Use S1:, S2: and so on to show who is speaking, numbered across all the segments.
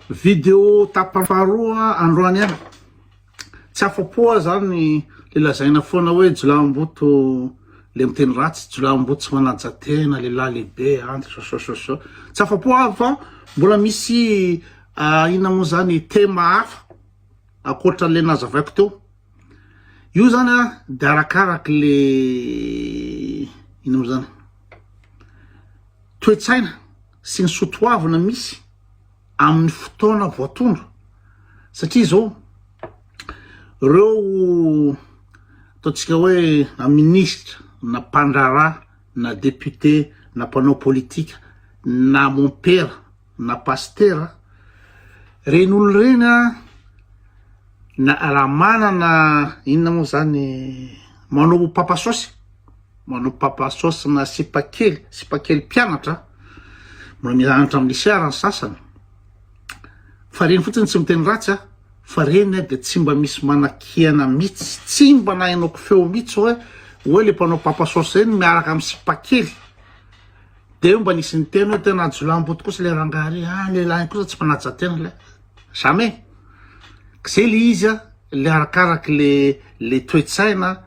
S1: Video tapany faharoa androany an! Tsy afa-po aho zany le lazaina foana hoe jolahimboto le miteny ratsy, jolahimboto tsy manaja tena, lehilahy lehibe an, sosososo. Tsy afa-po aho fa mbola misy inona moa zany tema hafa ankoatra le nazavaiko teo. Io zany an de arakaraky le inona moa zany toe-tsaina. sy ny soa toavina misy amin'ny fotoana voatondro satria izao reo ataontsika hoe na ministra na mpandraharaha na député na mpanao politika na mompera na pastera reny olo reny a na raha manana inona moa zany manao pampasosy Manao papa sauce na sipa kely, sipa kely mpianatra, mbola mianatra amin'ny lycée ary ny sasany, fa reny fotsiny tsy miteny ratsy a, fa reny dia tsy mba misy manakiana mitsy, tsy mba nahenoko feo mitsy hoe hoe le mpanao papa sauce reny miaraka amin'ny sipa kely, dia eo mba nisy niteny hoe tena jiolahy-mbo tokoa se le rangahy reny, ah le lahiny kosa tsy manaja tena le, jamais, k'ze le izy a, le arakaraky le le toe-tsaina,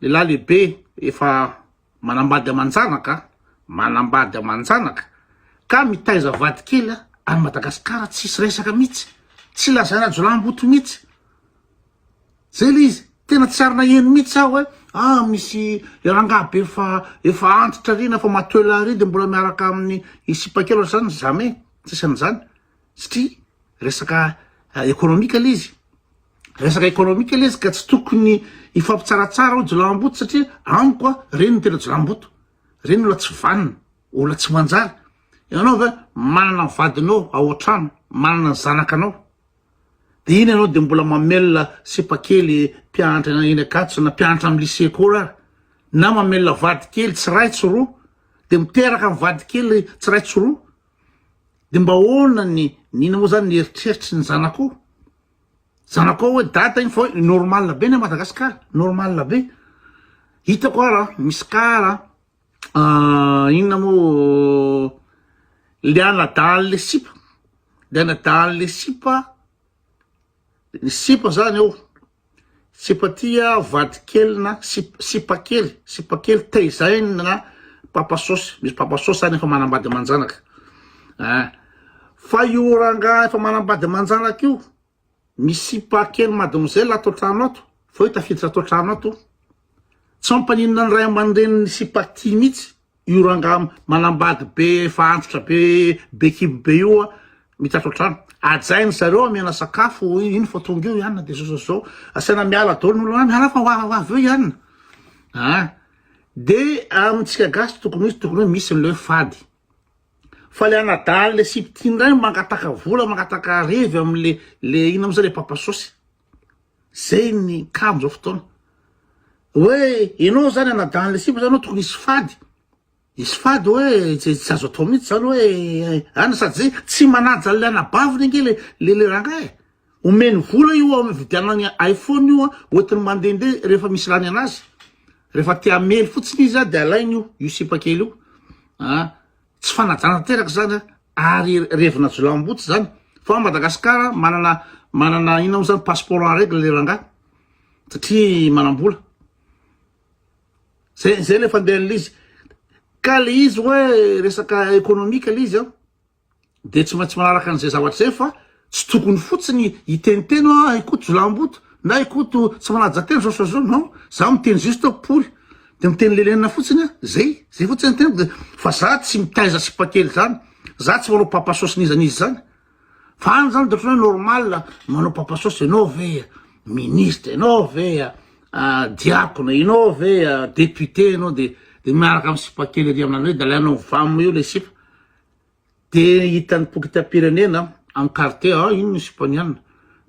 S1: Lehilahy lehibe efa manambady aman-janaka, manambady aman-janaka ka mitaiza vady kely any Madagasikara tsisy resaka mihitsy, tsy lazaina jiolahimboto mihitsy. Zay le izy, tena tsy ary naheno mihitsy aho hoe ah misy rangahy be efa efa antitra ary na efa matoela ary de mbola miaraka amin'ny sipa kely ohatr'izany, jamais, tsisy an'izany. satria resaka ekonomika le izy resaka ekonomika le izy ka tsy tokony hifampitsaratsara ao jilamboto satria amiko a reny ny tena jilamboto reny olona tsy vanina olona tsy manjary ianao ve manana ny vadinao ao an-trano manana ny zanakanao de iny ianao de mbola mamelona sipakely mpianatra ena eny akatso na mpianatra amin'ny lycée koa ary na mamelona vadikely tsy ray tsy roa de miteraka ny vadikely tsy ray tsy roa de mba ahoana ny n'inona moa zany ny eritreritry ny zanakao zanakao hoe dada iny fa hoe normal be ny a Madagascar normal be hitako ara misy kara inona moa le anadahin'le sipa le anadahin'le sipa Ny sipa zany eo, sipa tia vadikely na sipa kely, sipa kely teizainy na papa sôsy, misy papa sôsy zany efa manambady aman-janaka eh, fa io rangahy efa manambady aman-janaka io misy sipa kely mademoiselle ato an-trano ato fa io tafiditra ato an-trano ato, tsy mampaninona ny ray aman-drenin'ny sipa tia mihitsy. Io rangahy manambady be efa antitra be be kibo be io a mitatao trano ajainy zareo amena sakafo io iny fa tonga eo ianina de zao zao zao asaina miala dolo nolo any miala fa ho avy avy eo ianina a de amintsika gasy tokony misy tokony hoe misy ny le fady fa le anadahan'le sipitiny ray mangataka vola mangataka revy am'le le ina am'zay le papa sosy Zay ny cas amzao fotoana. Hoe enao zany anadahy anle sipa zany tokony hisy fady, hisy fady hoe tsy azo atao mintsy zany hoe an sady zay tsy manaja anle anabaviny ange le le rangahy e, omeny vola io hividianany iphone io an hoentiny mandende refa misy lany anazy, refa te hamely fotsiny izy an de alainy io io sipa kely io an. Tsy fanajana tanteraka zany a, ary revina jolahimboto zany, fa Madagascar manana manana inona mo zany passeport en règle le rangah satria manambola, zay zay le fandehan'le izy, ka le izy oe resaka economique le izy an de tsy maintsy manaraka an'izay zavatra zay fa Tsy tokony fotsiny hiteniteny hoe ah i Koto jolamboto na i Koto tsy manaja tena zao sy zao non, za miteny juste hoe pory de miteny lelenina fotsiny ah zay, zay fotsiny ny teniko de fa za tsy mitaiza sipa kely zany, za tsy manao papa sôsy n'iza n'iza zany fa any zany de otrany hoe normal manao papa sôsy enao ve ah ministre enao ve ah ah diakona enao ve ah député enao de de miaraka am sipa kely ery aminareo de alainao vaminy eo le sipa. Dia hitan'ny pokitam-pirenena Ankarte a, iny ny sipany any.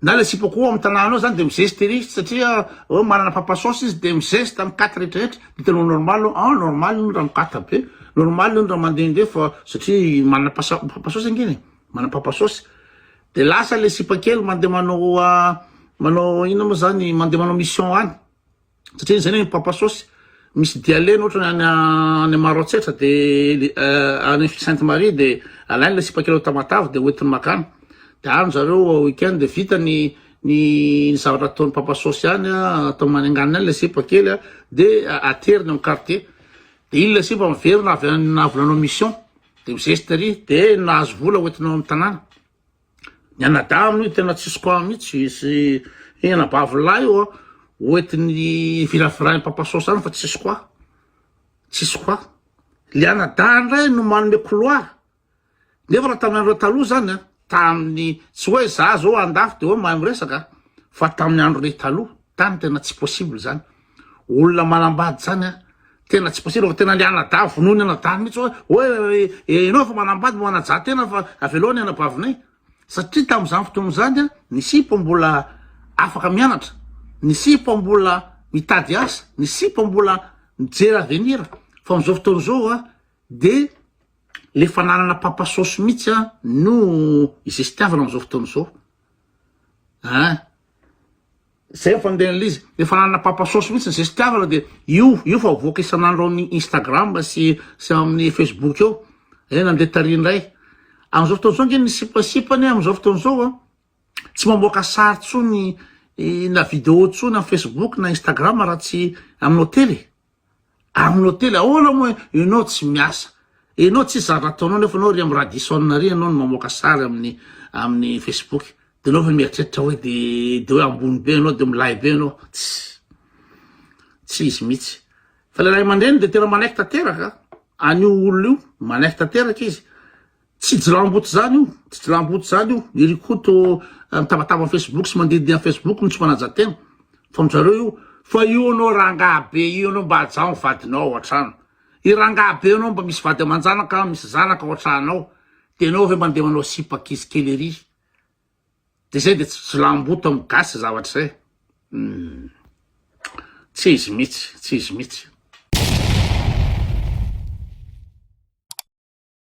S1: Na ilay sipa koa ao amin'ny tanàna ao zany dia mizesta ery izy satria oh, manana papa sauce izy dia mizesta mikata rehetra rehetra. Dia hitanao normal ao, ah normal io raha mikata be, normal io raha mandehandeha fa satria manana pasa- papa sauce angina e, manana papa sauce. Dia lasa ilay sipa kely mandeha manao ah, manao inona moa zany, mandeha manao mission any. satria izay ny papa sosy misy dialeny otrany any any maro atsetra de euh, any sainte marie de alainy le sipakireo tamatavy de hoentiny makany de any zareo weekend de vita ny ny zavatra ataony papa sosy any atao manenganina any le sipa kely a de ateriny am quartier de iny le sipa miverina avy any navolanao mission de mizesty ery de nahazo vola hoentinao am tanàna Ny anadahy aloha tena tsisy quoi mitsy sy ny anabavy lahy io an hoentiny virafirahin'i papa sôsa any fa tsisy quoi tsisy quoi le anadahy ndray no manome koloa nefa raha tamin'ny andro taloha zany an tamin'ny tsy hoe za zao andafy de hoe mahay miresaka fa tamin'ny andro ry taloha tany tena tsy possible zany olona manambady zany a tena tsy possible fa tena le anadaha vonoiny anadaha mihitsy hoe hoe enao fa manambady mo anajaha tena fa avelao ny anabavinay satria tam'izany fotoana zany a ny sipa mbola afaka mianatra ny sipa mbola mitady asa ny sipa mbola mijery avenira fa am'izao fotoana zao a de le fananana pampasosy mihitsy a no izestiavana am'izao fotoana zao a Zay ny fandehan'ilay izy, le fananana papa sôsy mihitsy ze sitiavana de io io fa avoaka isan'andro ao amin'ny instagram sy sy amin'ny facebook eo, eh nande tary indray, amin'izao fotoana izao ange ny sipasipa anie amin'izao fotoana izao a tsy mamoaka sary tsony na video tsony amin'ny facebook na instagram raha tsy amin'ny hotely e. Amin'ny hotely ahoana moa ianao tsy miasa? Ianao tsisy zavatra ataonao nefa ianao ry amin'ny Radisson ary ianao no mamoaka sary amin'ny amin'ny Facebook. Dia ianao ve mieritreritra hoe dia dia hoe ambony be ianao dia milay be ianao? Tsy tsy izy mihitsy. Fa ilay ray aman-dreny dia tena manaiky tanteraka an'io olona io, manaiky tanteraka izy. Tsy jilamboto zany io, tsy jilamboto zany io, i Rikoto mitabataba am Facebook sy mandididihy am Facebook no tsy manaja tena fa aminjareo io, fa io anao rangahy be io anao mba ajaho ny vadinao ao antrano, i rangahy be anao mba misy vady amanjanaka misy zanaka ao antranao de enao ve mande manao sipa ankizy kely ery, de zay de tsy jilamboto am gasy zavatra zay, humm tsy izy mitsy, tsy izy mitsy.